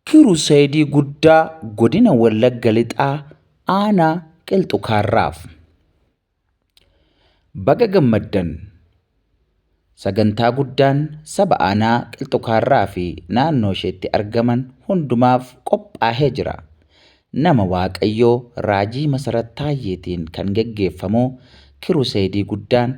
Kiruseedii Guddaa Godina Wallagga Lixaa Aanaa Qilxu Kaarraaf. Baga gammaddan! Sagantaa guddaan saba aanaa Qilxu Kaarraa fi naannoo isheetti argaman hundumaaf qophaahee jira. Nama Waaqayyoo Raajii Masarat Taayyeetiin kan geggeeffamu Kiruseedii Guddaan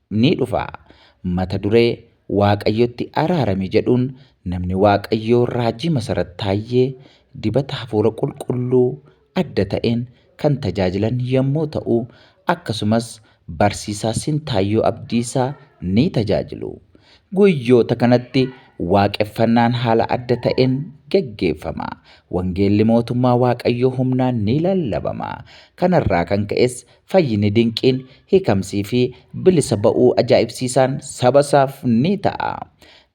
ni dhufa. Mata duree, Waaqayyotti araarami jedhuun namni Waaqayyoo Raajii Masarat Taayyee dibata hafuura qulqulluu adda ta'een kan tajaajilan yommuu ta'u, akkasumas Barsiisaa Sintaayyoo Abdiisaa ni tajaajilu. Guyyoota kanatti waaqeffannaan haala adda ta'een geggeeffama. Wangeelli Mootummaa Waaqayyoo humnaan ni lallabama. Kanarraa kan ka'es Fayyini dinqiin, hiikamsii fi bilisa ba'uu ajaa'ibsiisaan saba isaaf ni ta'a.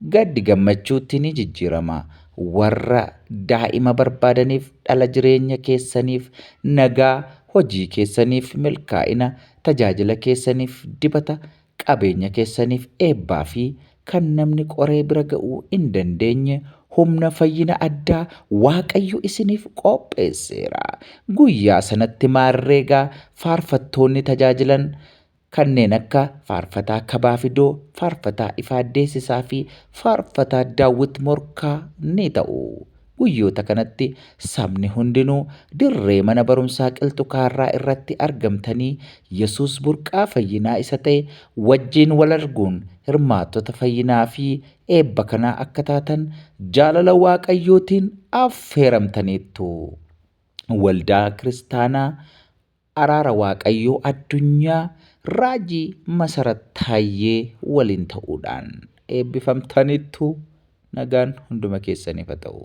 Gaddi gammachuutti ni jijjiirama. Warra daa'ima barbaadaniif dhala jireenya keessaniif nagaa, hojii keessaniif milkaa'ina, tajaajila keessaniif dibata, Qabeenya keessaniif eebbaa fi kan namni qoree bira ga'uu hin dandeenye humna fayyina addaa Waaqayyo isiniif qopheesseera. Guyyaa sanatti maarree egaa faarfattoonni tajaajilan kanneen akka Faarfataa Kabaa Fidoo, Faarfataa Ifaa Deessisaa fi Faarfataa Daawwit Morkaa ni ta'u. Guyyoota kanatti sabni hundinuu dirree mana barumsaa Qilxu Kaarraa irratti argamtanii Yesuus burqaa fayyinaa isa ta'e wajjin wal arguun hirmaattota fayyinaa fi eebba kanaa akka taatan jaalala Waaqayyootiin affeeramtaniittu. Waldaa Kiristaanaa Araara Waaqayyoo Addunyaa Raajii Masarat Taayyee waliin ta'uudhaan eebbifamtaniittu Nagaan hunduma keessaniif ha ta'u.